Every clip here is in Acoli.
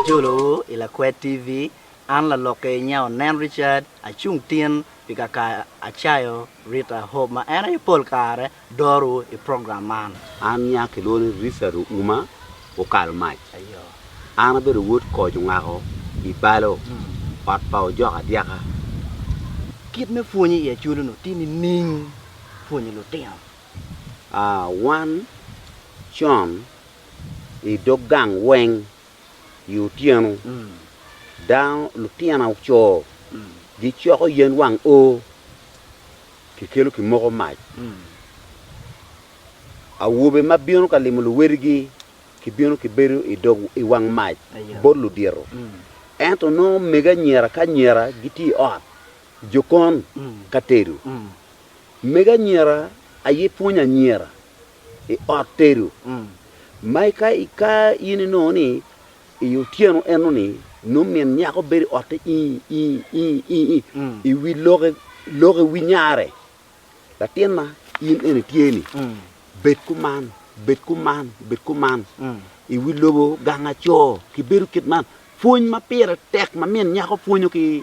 Ajolowu i Lakwed TV, an lalokke i nge onen Richard, acung tin pi kaka acayo Rita Hope ma en aye pol kare doro i program man. An nya kilwongo ni Richard Ouma okalo mac. An abedo wod koc ongako i balo, ot pa ojok adyaka. Kit me pwonyo i Acholi onongo tye nining pwonyo lutino? Aa, wan con i dog gang weng i otyeno dano lutino co gicoko yen wang oo Kikelo kimoko mac. Awobe ma bino ka limo luwedigi gibino gibedo i wang mac bot ludito. Ento nongo omege anyira ki anyira gitye i ot jokon ka tedo. Mege anyira aye pwonyo anyira i ot tedo. Ma ka in inongo ni I otyeno enoni, nongo min nyako bedo i otte i wi lokke wi nyare, Latinna, in eni tye-ni, bed kuman, bed kuman, bed kuman. I wi lobo gang aco, kibedo kit man. Pwony ma pire tek ma min nyako pwonyo ki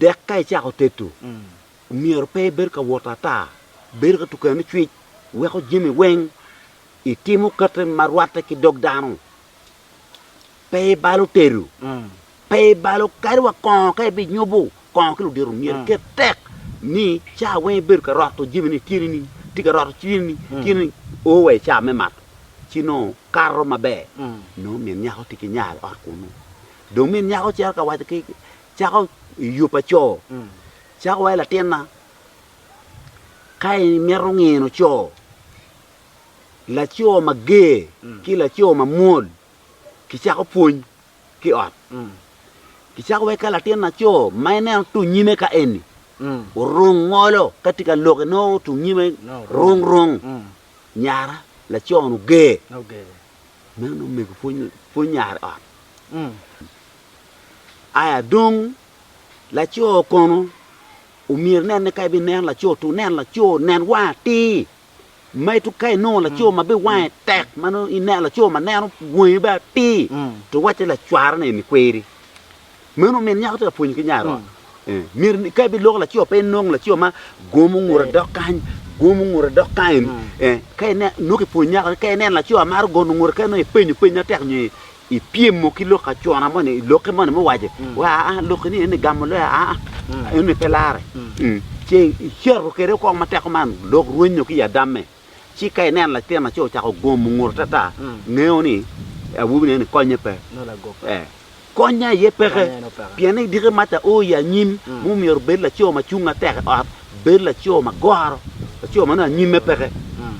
dek ka icako tedo, myero pe ibed ka wot ata, bedo ka tuko eno cwic, weko jami weng itimo kite ma rwatte ki dog dano. Pe ibalo tedo, pe ibalo kadi wa kongo ka ibinyubo kongo ki ludito, myero iket tek ni caa weng ibedo ka roto jami ni tye nining, itye ka roto ci nining, tye nining, o wa i caa me mato ci nongo kato maber, nongo min nyako tye ki nya i ot kunu. Dong min nyako cito ka waco ki cako i yo pa co, cako wa, Latinna, ka imito ngino co, laco mager ki laco mamwol gicako pwony ki i ot. Gicako wek ka latin laco ma ineno tung nyime ka eni orung ngolo ka tye ka lok inongo tung nyime rung rung, nyara lacon oger. Meno omego pwony yare ot. Aya dong laco kono omyero nen ni ka ibi neno laco tu nen laco nen wang atir ma itu ka inongo laco mm. ma be wange mm. tek ma ineno laco ma neno wangi be atir mm. to wacce lacwara ni emi kweri Meno omiyo nyako tye ka pwonyo ki nyare ot. Myero ka ebiloko laco pe enong laco ma gomo ngute dok kany, gomo ngute dok kany. Ka ine nongo kipwonyo nyako ni ka ineno laco a maro gono ngute kene nongo ipenyo peny matek nyo ipyemo ki lok acona moni, lokke moni muwaco wa aa lokki ni eni gamo loyo aa eni pe lare. Ce icito kwede kong matek kuman lok rwenyo ki i adamme. Ci ka ineno latin laco ocako gomo ngut atata, ngeo ni awobi neni konye pe. Ee, kony aye peke. Pien ni diki mac ao i anyim ma omyero obed laco ma cung matek i ot, bed laco ma goro, laco ma nongo anyimme peke.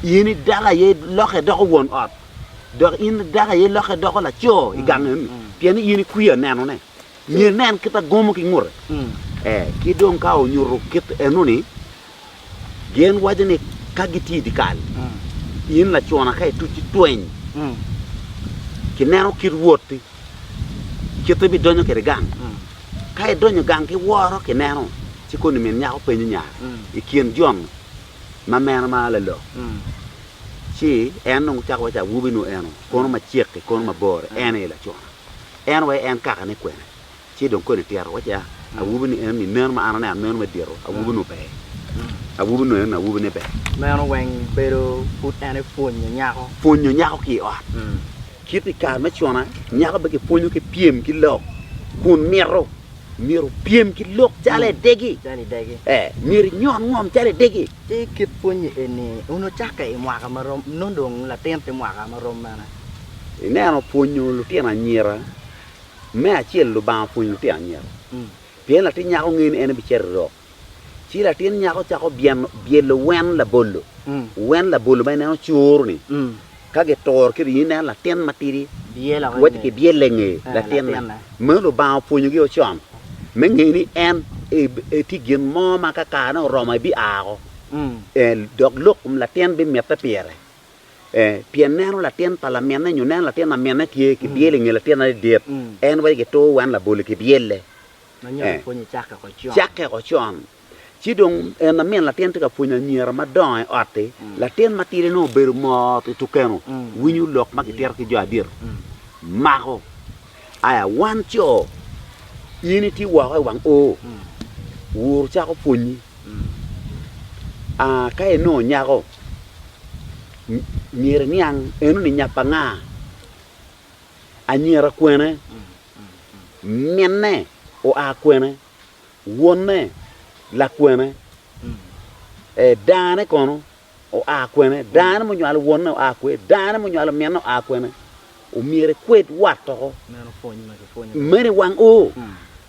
In i dako aye ilokke idoko won ot, dok in i dako aye ilokke idoko laco i gang eni, pien ni in ikwiyo nenone. Myero inen kit ma gomo ki ngute. Ee, ki dong ka onyuto kit enoni, Gin waco ni ka gitye i dyekal, in lacona ka ituc ci tweny ki neno kit wotti, kite bidonyo kede gang. Ka idonyo gang ki woro ki neno, ci koni min nyako penyo nyare i kin jon ma meno ma lalok, ci en dong cako waco awobi nu eno kono macek-ki kono mabor-ri, en aye lacona. En wa en kakane kwene? Ci dong koni tito wacci, a, awobi ni eno-ni meno ma an aneno meno me dito, awobi nongo ber? Awobi nongo eno-ni awobine ber? Meno weng bedo pud en aye pwonyo nyako. Pwonyo nyako ki i ot. Kit i kare me cona, nyako pe kipwonyo ki pyem ki lok, kun mito myero opyem ki lok calo edegi. Calo idegi. Ee, myero inyon ngom calo idegi. Ci kit pwonyi eni onongo cakke i mwaka ma rom, nongo dong latin tye mwaka ma rom mene? Ineno pwonyo lutino anyira Me acel, Lubanga opwonyo latin anyira. Pien latin nyako ngeyo ni en ebicito i rok, ci latin nyako cako byeno, byelo wen labolo, wen labolo ma en en ocuru-ni. Ka gituro kiri, in ineno latin matidi wacci kibyelle i nge latinne. Meno Lubanga opwonyogi o con, me ngeyo ni en e, tye gin mo ma ka karene oromo ebia woko, dok lok kom latin bimitte pire. ee, pien neno latin pa laminne nyo neno latin laminne tye ki byel i nge latin adit, en wacci gitoo wan labole ki byelle. Ee, cakke woko con. Ci dong en lamin latin tye ka pwonyo anyira madongo i ot-ti, latin matidi nongo obedo mot i tukenu, winyo lok ma kitito ki jo adit, mako. Aya, Wan co, in itye woko i wang oo, wuru cako pwonyi. Aa, ka inongo nyako, myero iniang enoni nya pa nga? Anyira kwene? Minne oa kwene? Wonne lakwene? Ee, dane kono oa kwene? Dano munywalo wonne oa kwe? Dano munywalo minne oa kwene? Omyero ikwed wat oko. Meno i wang ur.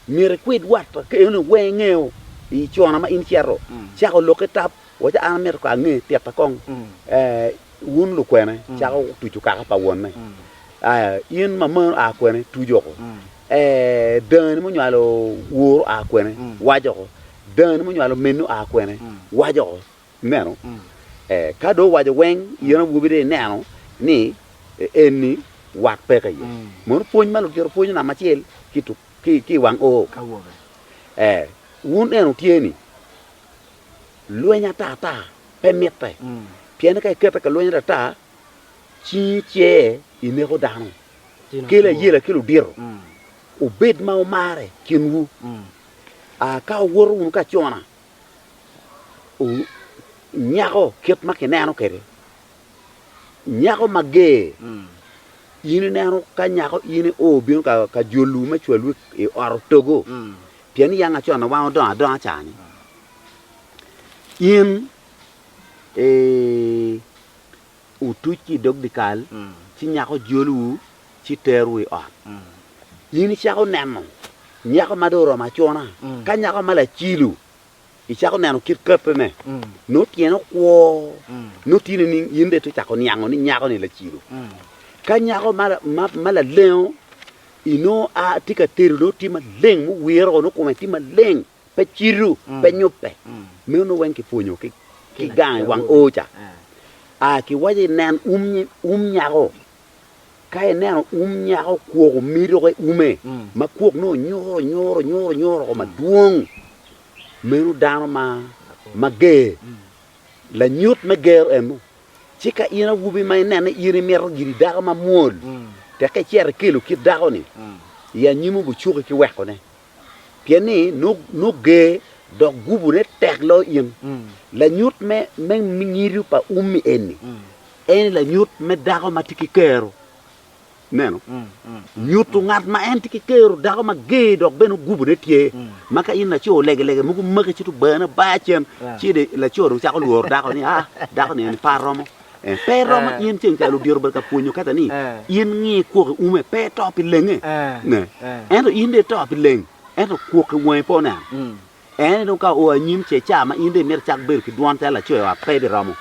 Myero ikwed wat oko. Ka eno weng ingeo i cona ma in icito, cako lok ki tap, waci an amito ka ange tika kong wun lukwene cako tucu kaka pa wonne. In mamani oa kwene? Tuc oko. Dani munywalo ur oa kwene? Wac oko. Dani munywalo minni oa kwene? Wac oko. Ineno? Ee, ka dong owaco weng, in awobi dong ineno ni enni wat peke iye. Mono pwony ma lutito pwonyo namba acel ki i tuk- ki- ki i wang oo. Awobe. Ee, wun eno tye ni lweny ata ata pe mitte, pien ni ka ikete ka lweny ata ata, cingi cer ineko dano. Tino Kelo two. ayela ki ludito, Mm, wubed ma wumarre kinwu. mm. Aa, ka wuwoto wunu ka acona, nyako kit ma kineno kwede, nyako mager. In ineno ka nyako in io bino ka jolwu me cwalwu i ot otogo, pien iyang acon na wang odongo adonga cani. In otuc ki i dog dyekal, ci nyako jolowu, ci terowu i ot. In icako neno nyako ma dong oromo acona, ka nyako ma lacilo, icako neno kit katene, nongo tyene okwo, nongo tye nining? In dong itye ka cako niango ni nyako-ni lacilo. Ka nyako ma, ma, ma lalengo, inongo a, tye ka tedo, nongo tye maleng, muwiro, nongo kome tye maleng. pe cito, pe nyubbe. Meno weng kipwonyo ki gang i wang oo ca. Kiwaco ni nen um nyako, ka ineno um nyako kwok omido ki ume ma kwok nongo nyuro nyuro nyuro nyuro ko madwong, meno dano ma ger, lanyut me ger eno. Ci ka in awobi ma inene in imito giri dako mamwol, tekke icito ikelo kit dako-ni i anyim obucuki ki wekone. pien ni nogge dok gubone tek lo in. Lanyut me nyiri pa ummi eni eni lanyut me dako ma tye ki kero. Neno, nyuto ngat ma en tye ki kero, dako ma ger dok bene gubone tye. Ma ka in laco lege lege mogo maki ci to bane bar cen ci laco dong cako lworo dako ni ah dako ni eni par romo. Pe romo in ceng calo odiro bene ka pwonyo kata ni in ngi kwok i ume pe ito pi lenge ne. Ento in dong ito pi leng ento kwok i wangi pe oneno. En ni dong ka oo anyim ce ca ma in dong imito icak bedo ki dwon calo laco wa pe biromo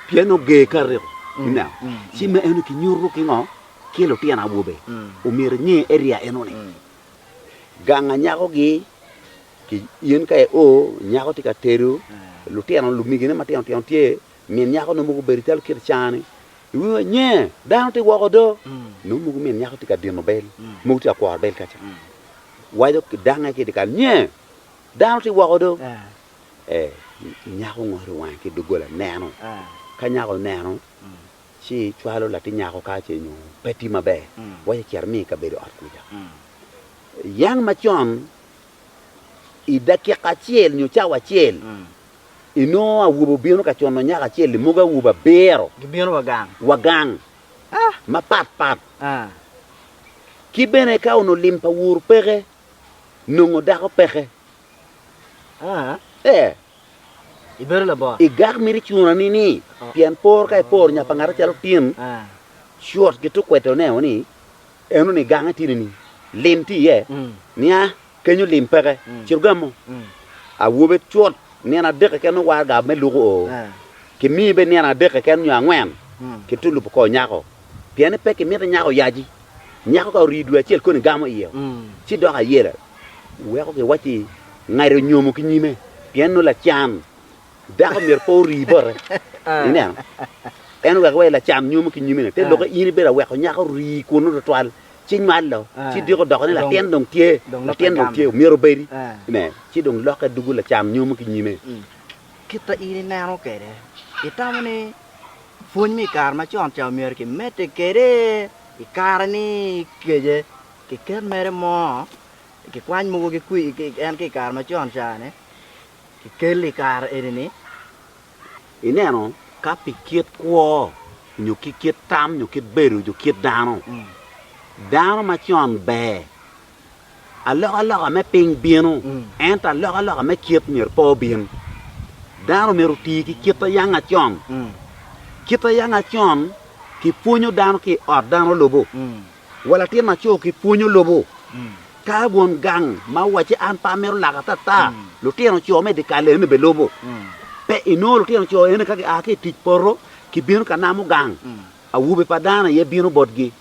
pien ni oger ka ariko. Ineno? Ci me eno kinyuto ki ngo? Ki lutino awobe omyero inge area eno ni gang anyako gi in ka i oo nyako tye ka tedo lutino lumigi ne matino tino tye. Min nyako nongo mogo obedo calo kit cani, iwingo ni nye dano tye woko do, nongo mogo min nyako tye ka dino bel, mogo tye ka kworo bel kaca, waco ki dange ki dyekal ni nye dano tye woko do. Ee, nyako ngoto wange ki doggola neno, ka nyako oneno ci cwalo latin nyako ka ce nyo pe tye maber, waco cito imiye i kabedo ot kwica. Yang macon i dakika acel nyo cawa acel, inongo awobe obino ka cono nyako acel-li, mogo awobe abiro Gibino wa gang. wa gang Ah! mapat pat. Ah! Ki bene ka onongo lim pa wur peke, nongo dako peke. Ah! Ee, Ibedo labor. i gak mito icunani ni, pien por ka iporo nya pa ngat acalo tin, Ah! cut ki tukwete oneno ni Eno ni gang atidi ni lim tye iye, nia kenyo lim peke, cito gamo. Awobe cut nino adek keken nongo waraga me luko oo, kimiye bene nino adek keken nyo angwen ki tulup oko nyako, pien ni pe kimito nyako oyaci. Nyako ka orii dwe acel koni gamo iye, ci doko ayela, weko giwacci ngati onyomo ki nyime, pien nongo lacan. Dako myero pe ori bote, ineno, en oweko wai lacam nyomo ki nyimine. Te lokke in ibedo aweko nyako ori kunnu twatwal, ci nywalo, ci dyeko doko ni latin dong tye, latin dong tye, myero obedi, ine, ci dong lokke dugu lacam nyomo ki nyime. Kit ma in ineno kwede, itamo ni pwony me i kare macon ca omyero kimedde kwede i kare ni kece kiket mere mo, kikwany mogo ki kwir en ki i kare macon ca-ni? kikel i kare eni-ni, ineno ka pi kit kwo nyo ki kit tam nyo kit bedo nyo kit dano, dano macon ber, alokaloka me piny bino, ento alokaloka me kit myero pe obin. Dano myero oti ki kit a yang acon. Kit a yang acon kipwonyo dano ki i ot dano lubo. Wa latin macoo ki pwony olubu ka won gang ma owacce an pe amito laka atata. Lutino coo me dikal eni be lubu pe inongo lutino coo eni ka gia ki itic poto ki bino ka namo gang awobe pa dano aye bino botgi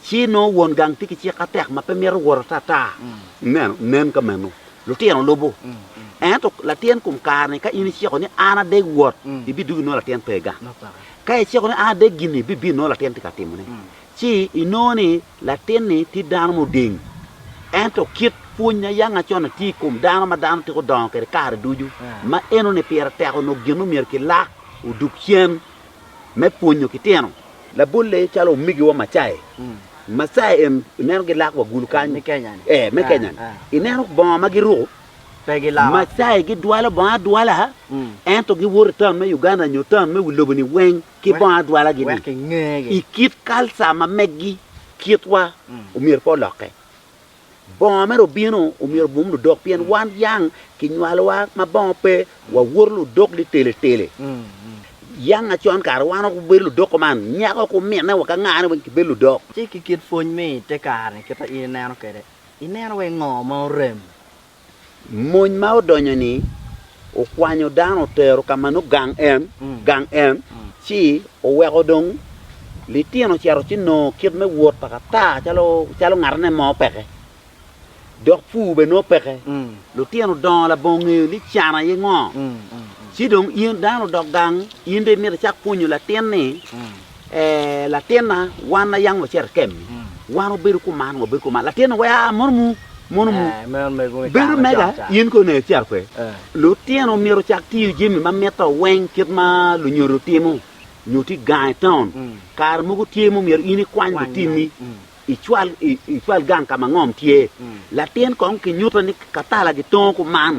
ci nongo won gang tye ki cik atek ma pe mito wot atata. Ineno? Nen ka meno lutino lubu. Ento latin kom kare ni ka in iciko ni an adek wot ibidwogi inongo latin pega. Ka iciko ni an adek gini bibino inongo latin tye ka timone. ci inongo ni latin-ni tye dano muding. Ento kit pwony a yanga con-ni tye i kom dano ma dano twero dongo kwede kare ducu. Ma enoni pire tek onongo gin ma myero kilak odug cen me pwonyo ki tino. Labolle calo omigiwa Macae, Macae en ineno gilak wa gulu kany, me Kenya-ni, ineno bongo ma giruko, Macae gidwalo bongo adwala ento giwoto i taun me Uganda nyo taun me wi lobo-ni weng. ki bongo adwalagi ni i kit kalca ma megi kitwa omyero pe olokke. Bongo mere obino omyero obum ludok pien wan yang kinywalowa ma bongo pe wawoto ludok liteletele. Yang acon kare wan woko wabedo ludok kuman nyaka woko ominne wa ka nga ni weng kibedo ludok. Ci ki kit pwony me i te kare-ni kit ma in ineno kwede, ineno wai ngo ma orem Mony ma odonyo ni okwanyo dano otero ka ma nongo gang en, gang en, ci oweko dong litino ocito ci nongo kit me wot pa kata calo calo ngatane mo peke dok pur bene nongo peke litino dongo labongo ngeyo ni can aye ngo ci dong in dano odok gang in dong imito icak pwonyo latin ni Ee, latinna, wan ayang macerte kemi, wan wabedo kuman, wabedo kuman. Latinna, we aa mono mu, mono mu. Bedo mega, in kono nek cito pe. Lutino myero ocak tiyo jami ma mitte weng kit ma lunyodo timo, nyo ti gang i taun. Kare mogo tye ma omyero in ikwany lutini i cwal gang ka ma ngom tye, latin kong kinyuto ni katala gitongo kuman,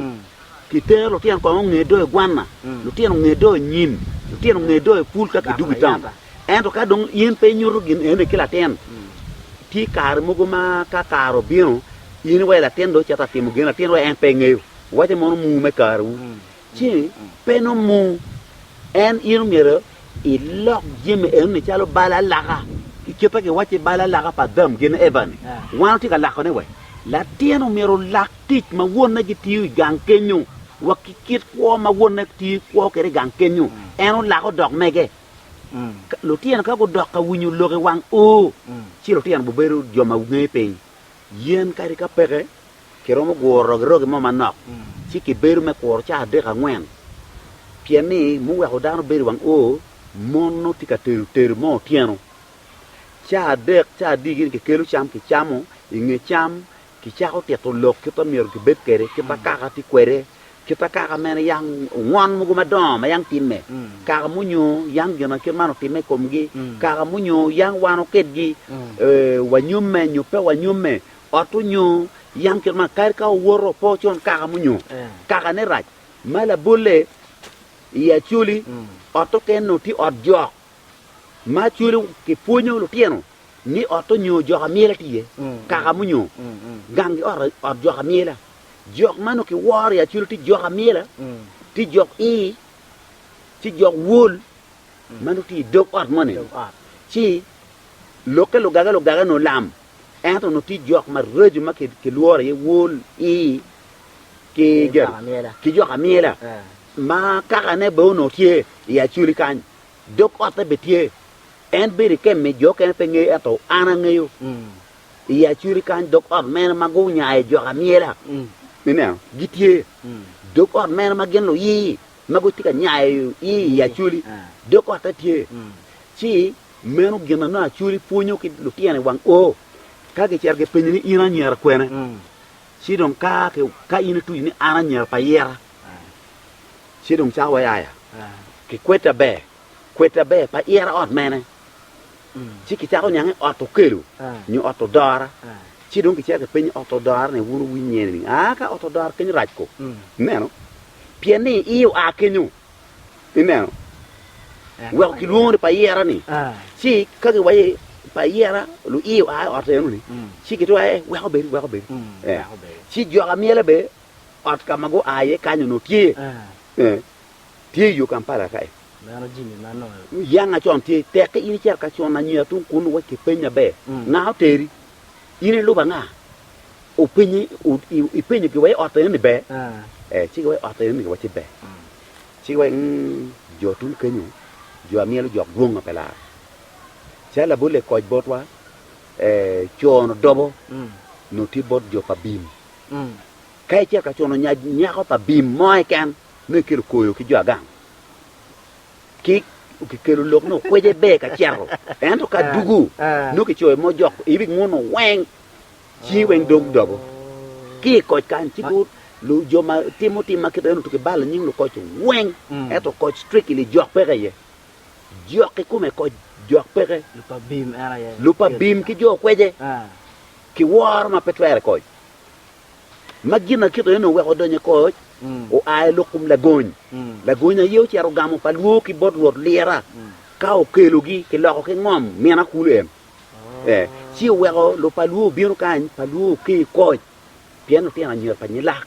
kitero lutino kong onge do i gwanna, lutino onge do i nyim, lutino onge do i pul ka kidwogo i taun. Ento ka dong in pe inyuto gin eni ki latin, tye kare mogo ma ka kare obino, in iweyo latin dong cito atimo gin latin wek en pe ngeyo. Wuwace mono mur me kariwu. ci pe nomung en, in omyero ilok jami eno-ni calo bal alaka, ki kit ma kiwacci i bal alaka pa Adam gin Eva-ni. Wan watye ka lakone wek latin omyero olak tic ma wonne gitiyo i gang kenyo wa ki kit kwo ma wonne tiyo kwo kwede i gang kenyo, en olako dok mege. Lutino ka gudok ka winyo lok i wang O, ci lutino gubedo jo ma ngeyo piny. Yen kadi ka peke kiromo guro rogirogi mo manok ci kibedo me kuro caa adek angwen, pien ni muweko dano bedo i wang oo mon nongo tye ka tedo tedo me otyeno. Caa adek caa adiki ni kikelo cam kicamo, i nge cam kicako tito lok kit ma myero kibed kwede, kit ma kaka tye kwede, kit ma kaka meno yang ngon mogo madongo ma yang timme, kaka munyo yang gin ma kit man otimme i komgi, kaka munyo yang wan okedgi, wanyomme nyo pe wanyomme. Ot onyo yam kit man kadi ka owoto pe ocon kaka munyo kaka ne rac ma labolle i acoli ot oken nongo tye ot jok ma acoli kipwonyo lutino ni ot onyo jok amyela tye iye kaka munyo gangi ot ot jok amyela jok ma nongo kiworo i acoli tye jok amyela tye jok i ci jok wol ma nongo tye i dog ot moni ci lokke lugaga lugaga nongo lam Ento onongo tye jok maraco ma kilworo iye wol, ii, ki jok amyela, ma kakane bene onongo tye i acoli kany, dog otte bene tye. En bedo i kemp me jo okene pe ngeyo, ento an angeyo. I acoli kany dog ot meno ma gunyayo jok amyela, ineno, gitye. Dog ot meno ma gin luii ma gitye ka nyayo i acoli, dog otte tye. Ci Meno gin ma nongo Acoli pwonyo ki lutino i wang O ka gicito gipenye ni, In anyira kwene? Ci dong ka ka in ituco ni, An anyira pa Ira, ci dong cako wai aya ki kweddi aber. Kweddi aber pa Ira ot mene? Ci kicako niang ni ot Okelo nyo ot Odora. Ci dong gicito gipenye ot Odora ni, Wun wuwinyo iye nining? Aa, ka ot Odora kenyo rac ko. Ineno? Pien ni i oa kenyo. Ineno? Weko kilwongo ni payera ni. Ci ka giwaye payera luiye oa i ot eno ni, ci gitwero aye weko bedi, weko bedi. Ci jok amyele be ot ka ma gua iye kany onongo tye, tye iyo Kampala ka-i. Yanga con tye, tekke in icito ka con anyira tung kunu wa kipeny maber, nga oteri? In iluba nga? Openye, ipenyogi wa i ot enoni ber? Ee, ci giwaco, ot enoni wa ci ber. Ci giwaco, ng, jo tung kenyo, jo a myelo jok dwong ma pe lar. Calo labolle koc botwa, ee, cono dobo nongo tye bot jo pa bim. Ka icito ka cono nyako pa bim mo keken, nongo ikelo koyo ki jo agang. kik kikelo lok ni okwece ber ka cito, ento ka dugu nongo kicoyo mo jok ibi nguno weng cingi weng dog dobo ki i koc kan ci gu jo ma timo tim ma kite nutu kibalo nying lukoc weng ento koc strictly jok peke iye jok ikome koc jok peke lupa bim ki jo okwece kiworo ma pe twere koc ma gin akito aye ni oweko odonyo i koc, oa i lok kom lagony. Lagony aye ocito gamo pa lwor ki bot Rwot lira, ka okelogi kiloko ki ngom min akulu en. Eh, ci oweko lub pa lwor obino kany, pa lwor oke i koc, pien lutino anyogi pa nyilak.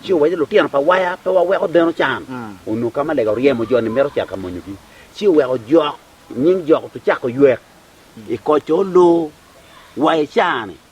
Ci owaco ni, Lutino pa waya, pe waweko deno can. Onongo ka ma lega oryemo jo ni mito cito ka monyogi. Ci oweko jok, nying jok otucako ywek i koc-co olor wa i caa-ni.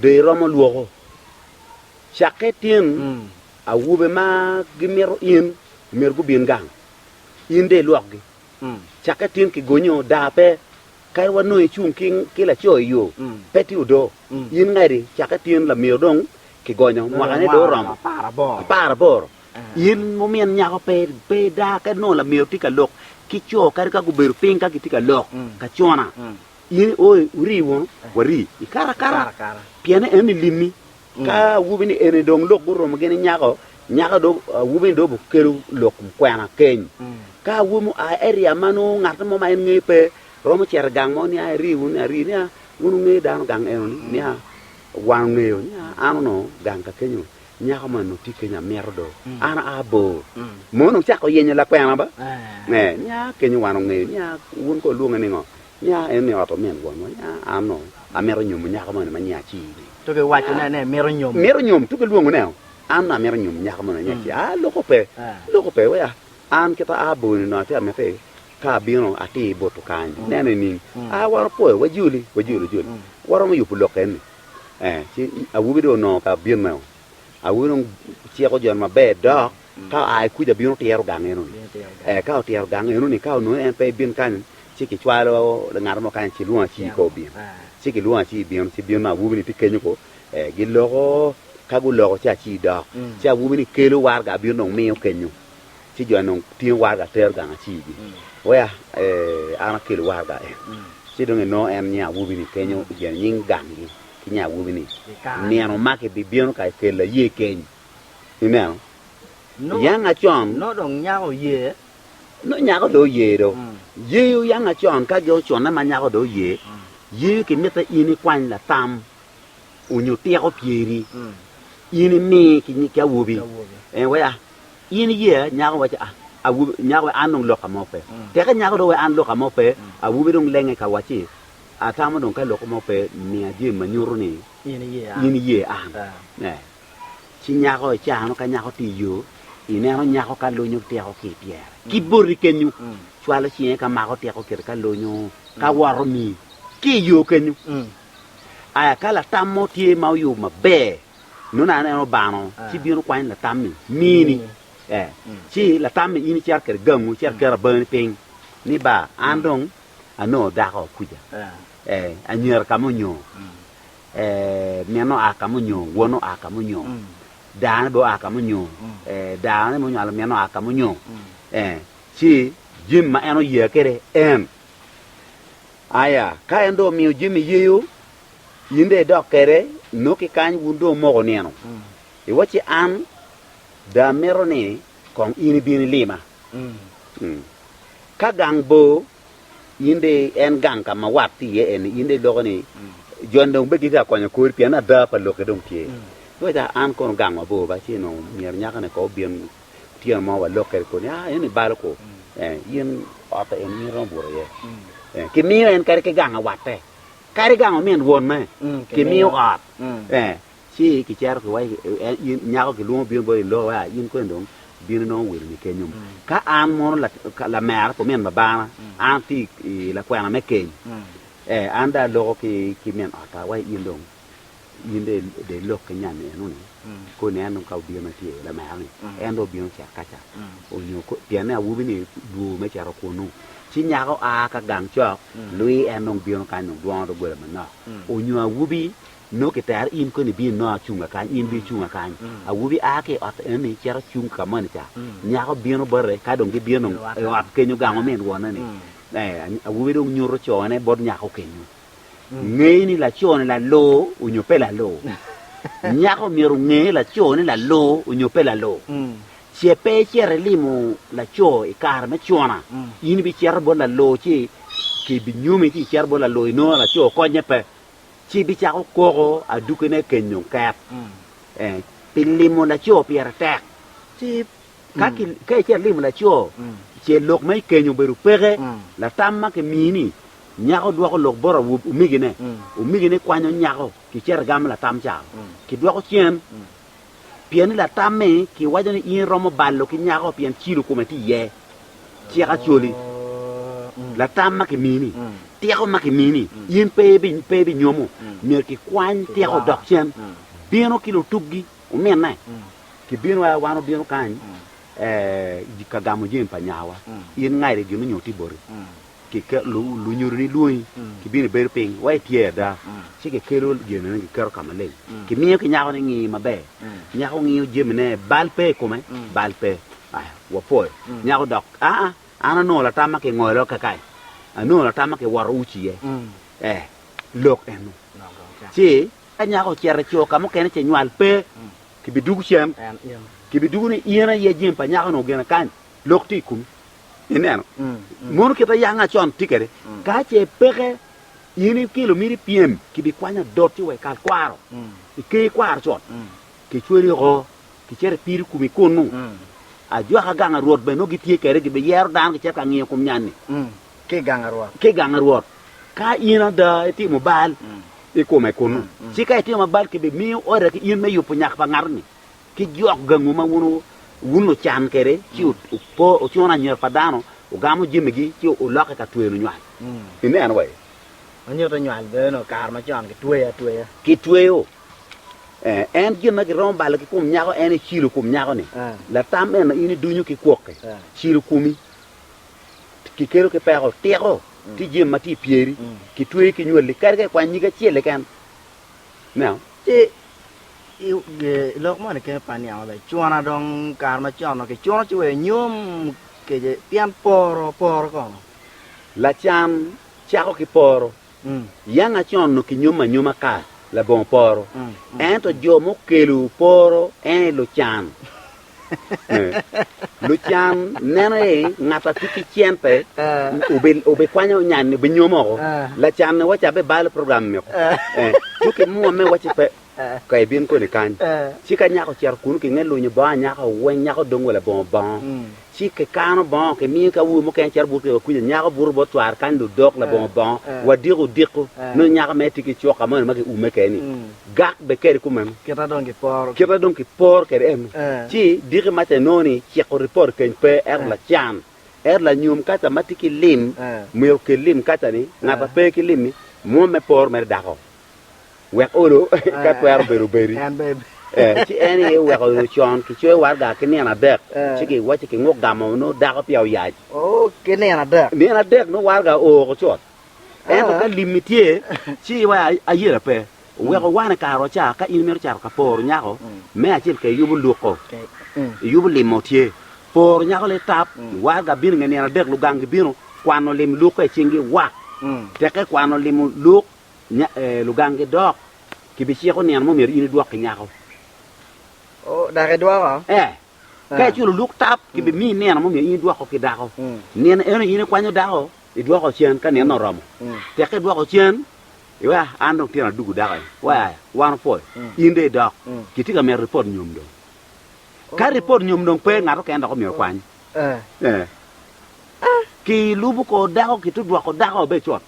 Be iromo lwoko cakke tyen awobe ma gimito in omyero gubin gang? In de ilwokgi cakke tyen ki gonyo daa pe? Kadi wa nongo icung ki laco i yo, pe tye odo. In ngadi cakke tyen lamyero dong kigonyo mwakane dong oromo apar aboro. In mumin nyako pe ida kadi nongo lamyero tye ka lok ki co kadi ka gubedo piny ka gitye ka lok kacona. In iooyo uri wunu, wari ikato akata, pien en elimmi. Ka awobi ni eni dong lok gurumo gini nyako, nyako do awobi ni do bukelo lok kwena keny. Ka awobi mo aa area ma nongo ngat mo ma en ngeyo pe, romo cito i gang mo niya, iri wunu ni ari niya, wun wungeyo dano gang eno ni niya, wan ongeyo niya an onongo gang ka kenyo. Nyako man onongo tye kenyo amito do, an aa bor. Mon onongo cako yenyo lakwena ba. Nge, nya kenyo wan ongeyo, nya wun ko olwonge ni ngo? Nya en ni ot omin wonwa, nya an no amito nyomo nyako moni ma nya aci-ni. Tuki waco ne ne mito nyomo. Mito nyomo, tuki lwongo ne o, an no amito nyomo nyako moni nya aci. Aa, loko pe, loko pe, wea, an kita aa bor-ni onongo atye amite ka abino atir butu kany, ineno nining? Aa wan opoyo, wajoli, wajoli, wajoli, waromo yubo lok eni. ee ci awobi dong onongo ka bino meno awobi dong ciko joni maber dok ka oa ki kuca bino tyero gang eno ni ee ka otyero gang eno ni ka onongo ni en pe ibin kany ci kicwalo ngat mo kany ci lwongo aci ko obin ci kilwongo aci bino ci bino nongo awobi ni tye kenyo ko ee giloko ka guloko ci aci dok ci awobi ni kelo waraga bino dong miyo kenyo Ci jo-ni dong tingo waraga tero gang acii-gi. Weya, ee, an akelo waraga en. Ci dong enongo en nya awobi-ni kenyo i gen nying gang-gi ki nya awobi-ni, Nino ma kibibino ka ikelo aye keny. Ineno? Oyang acon. Nongo dong nyako oye. Nongo nyako dong oye do. Yee, oyang acon ka gin oconne ma nyako dong oye, yee, kimitte in ikwany latam onyo tiko pyeri, in imi ki awobi. Ee, weya. In iye nyako waco a, awobi nyako we an dong loka mo pe. Teke nyako dong we an loka mo pe, awobi dong lenge ka wacci atamo dong ka loko mo pe miya jemi ma nyuto ni in iye an. Eh. Ci nyako ecano ka nyako tye iyo, ineno nyako ka lunyo tyeko ki ipyere ki boti kenyo, cwalo cinge ka mako tyeko kite ka lunyo ka woto mi ki iyo kenyo. Aya ka latam mo tye ma oyubo maber Nongo an en obano, ci bino kwany latammi, mini. Ee, ci latammi in icito kwede gangu, icito iketo abangani piny, ni ba, an dong anongo dako kuca, ee, anyira ka ma onyongo, ee, min oa ka ma onyongo, won oa ka ma onyongo, daane bene oa ka ma onyongo, ee, daane ma onywalo min oa ka ma onyongo, ee, ci jami ma en oye kwede en. Aya, ka en dong omiyo jami yeyo, In dong idok kwede, inok ki kany wun dong omoko nino. I wacci an dong amito ni kong in ibin ilima. Ka gang bor, in dong en gang ka ma wat tye iye eni, in dong iloko ni joni dong bed gitye ka konyo kori pien ada pa lokke dong tye. Wacci an kono gang mabor ba ci onongo myero nyakani kong obin otyeno mo walok kwede kodi ni, aa eni balo kwo, in otta eni in iromo buto iye. Kimiyo en kadi ki gang awatte. Kadi gang omin wonne kimiyo ot, ci kicito ki wa, nyako kilwongo bino boti loo wa, in koni dong bino nongo wiloni kenyo. Ka an mono lamera pa omin babana, an atye i lakwena me keny, an dong aloko ki min otta wa in dong. In dong ilok ki nyan eno-ni, ko nen dong ka obino ma tye lamera-ni, en dong obino cet ka ca, onyo pienne awobi-ni lwor me cito kunnu. Ci nyaka oa ka gang cok, lwi en dong bino kany dong dwongo doggola manok. Onyo awobi, nongo kitero in koni ibin inongo acunga kany, in bino cunga kany. Awobi a ki i ot eno-ni cito cung ka moni ca, nyako bino bote, ka dong gibino i ot kenyo gang omin wonne-ni, awobi dong nyuto cone bot nyako kenyo. Ngey ni laco-ni laloo onyo pe laloo. Nyako myero onge laco ne laloo onyo pe laloo. Ce pe icito ilimo laco i kare me cona, in ibicito bot laloo ci kibinyomi ci icito bot laloo inongo laco okonye pe, ci bicako koko aduki ne kenyo nket. Eh, Pi limo laco pire tek. Ci ka ki ka icito ilimo laco, ce lok ma ikenyo obedo peke, latam ma kimiyi-ni Nyako dwoko lok bot omigine. Omigine kwanyo nyako ki cito egamo latam ca. Kidwoko cen pien ni latam-mi kiwaco ni in iromo balo ki nyako pien cilo kome tye iye. Cik acoli, latam ma kimini, tiko ma kimini, in pe ibinyomo. Myero kikwany tiko odok cen. Bino ki lutubgi ominne. Kibino aye wan obino kany ka gamo jami pa nyawa. In ngairi gin onyo tye boti. lunyodo nilwongi kibino ibedo piny wa itye ada ci kikelo jami ne kiketo ka maleng kimiyo ki nyako ni ngiyo maber nyako ngiyo jami ne bal pe ikome bal pe aya wapwoyo nyako dok aa an onongo latam ma kingolo kakayi anongo latam ma kiwoto uci iye ee lok eno ci ka nyako ocito ico ka mukene ce nywal pe kibidugu cen kibidugu ni in aye jami pa nyako ni ogene kany lok tye ikomi Ineno? Mono kit ma yanga con tye kwede. Ka ce peke in ikelo miti ipyem, kibikwanyo adot ci wa ikal kwaro, iker kwaro con, kicweli oko, kicito ipiri kumi kunnu. Ajwaka gang pa Rwot bene nongo gitye kwede, gibiyero dano kicito ka ngiyo kom nyanni. Ki gang pa Rwot. Ki gang pa Rwot. Ka in ada itimo bal i kome kunnu, ci ka itimo bal kibimiyo ode ki in me yubo nyak pa ngat-ni. ki jok gangu ma wun wucan kwede, ci wucuno anyira pa dano, wugamo jamigi, ci wulokke ka tweno nywal. Ineno wa ye? Ma nyuto nywal bene nongo kare macon kitweyo atweya. Kitweyo. Eh, en gin ma giromo balo ki kom nyako, en ecilo kom nyako-ni. Latam eno in idunyo ki kwoki, cilo komi, kikelo ki peko, tiko, tye jami ma tye i pyeri, kitweyi ki nywali, kadi ka ikwany nyig acel keken. Now. Ci i lok moni kene pa niang maber, cuna dong kare macon dong kicuno ci wek nyom kece pien poro, poro kono. Lacam cako ki poro. Yanga con nongo kinyomo anyoma ka labongo poro, ento jo mukelu poro ene lucan. Lucan neno ni ngat a tye ki cente obikwanyo nya-ni obinyomo woko. Lacan-ni waco abibalo program meko. Ci ki mwomme waci pe, ka ibin koni kany. Ci ka nyako ocito kunnu ki nge lunyo bongo anyaka weng, nyako dong wa labongo bongo. Ci ki kano bongo ki miyo ki awobi mukene cito buto ki wa kwica, nyako buto bot cware kany ludok labongo bongo, wadiko diko, nongo nyako mere tye ki cuka moni ma ki ume keni. gak bed kede kumeno. Kite dong kiporo. Kite dong kiporo kede eno. Ci diki maca inongo ni ciko ripot keny pe, ento lacan, ento lanyom kaca ma tye ki lim myero okel lim kaca ni ngat ma pe ki lim-mi mwom me poro mere dako wek olo ka twero bedo obedi. Ci en aye oweko nyo con kicoyo waraga ki nino adek ci giwaco ki nguk gamo nongo dako peya oyac. Nino adek nongo waraga oo woko cut. Ento ka limmi tye, ci iwe ayera pe. Wek owane kare oca ka in imito cato ka poro nyako, me acel ka iyubo luko, iyubo limo tye. Poro nyako lei tap, warga bino nge nino adek lugang gibino kwano lim luko i cinggi wa. Tek ka ikwano limo luk lugang gidok, kibiciko nino mo myero in idwok ki nyako. Dako idwoko? Ee. Ka iculo luk tap, kibimiyi nino mo myero in idwoko ki dako. Nino eno in ikwanyo dako. idwoko cen ka nino oromo. Tek ka idwoko cen, iwek an dong tyena dugu dako en, waya, wan opwoyo. In dong idok. Kitye ka mito ripot nyom dong. Ka ripot nyom dong pe, ngat okene dok omyero okwany. Eh. Ki lubo kor dako, kitudwoko dako be cut.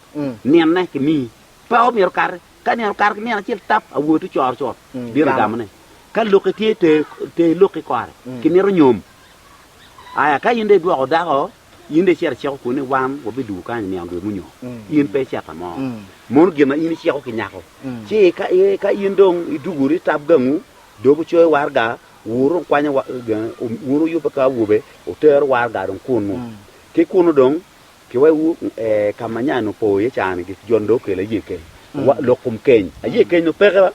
Nine kimiyi. Pe omyero kati. Ka nino okato ki nino acel tap, awobi to coro cut, bino gamone. Ka loki tye, ter, ter loki kore. Kimito nyom. Aya, ka in dong idwoko dako, In dong icito iciko kwoni ni wan wabidugo kany niang dwe munyo? In pe icito mo. Mono gin ma in iciko ki nyako. Ci ka in dong iduguri itab gangu, dog wucoyo waraga, wuru wukwanyo wunu yubbe ka awobe, wuteru waraga dong kunnu. Ki kunnu dong kiwewu ka ma nya-ni opo iye ca-ni, gik jo-ni dong okelo aye keny, lok kom keny, aye keny dong peke.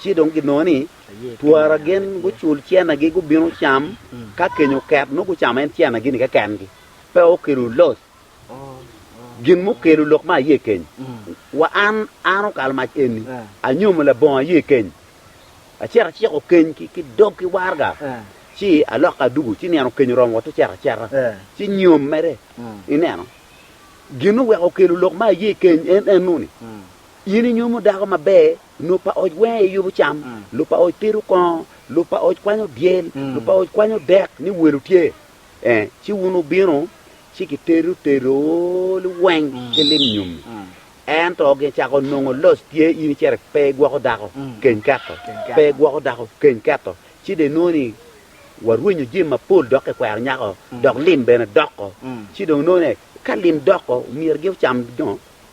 Ci dong ginongo ni, Twara gin gucul cennagi gubin ocam, ka keny oket, nongo gucamo en cennagi-ni keken-gi, pe okelo loc. Gin mukelo lok me aye keny, wa an, an okalo mac eni, anyomo labongo aye keny, acito aciko keny ki dog ki warga, ci aloko adugo, ci nino keny oromo wot ocito acita, ci nyom mere. Ineno? Gin oweko okelo lok me aye keny en ennu-ni, In inyomo dako maber, Lub pa oc weng aye yubo cam, lub pa oc pito kongo, lub pa oc kwanyo dyel, lub pa oc kwanyo dek ni welo tye. Ee, ci wun wubino, ci kitedo tedoni weng ki lim nyom-mi. Ento gicako nongo loc tye in icere pe igwoko dako, keny keto, pe igwoko dako, keny keto, ci dong inongo ni warwenyo jami mapol dok kikwero nyako, dok lim bene doko. Ci dong inongo ni ka lim doko myero gin ocam dongo.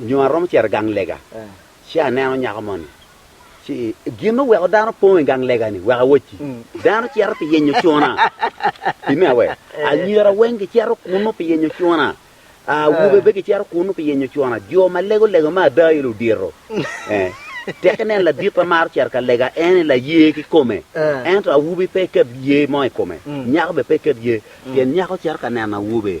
nyo aromo cito i gang lega, ci aneno nyako moni. Ci gin ma weko dano po i gang lega-ni, wek awocci, dano cito pi yenyo cuna. Pi me awe, anyira weng gicito kunnu pi yenyo cuna, awobe bene gicito kunnu pi yenyo cuna, jo ma lego lego me ada aye ludito. Tek inen ladit ma maro cito ka lega, en aye laye kikome, ento awobi pe iket ye mo i kome, nyako bene pe iket ye, pien nyako cito ka neno awobe,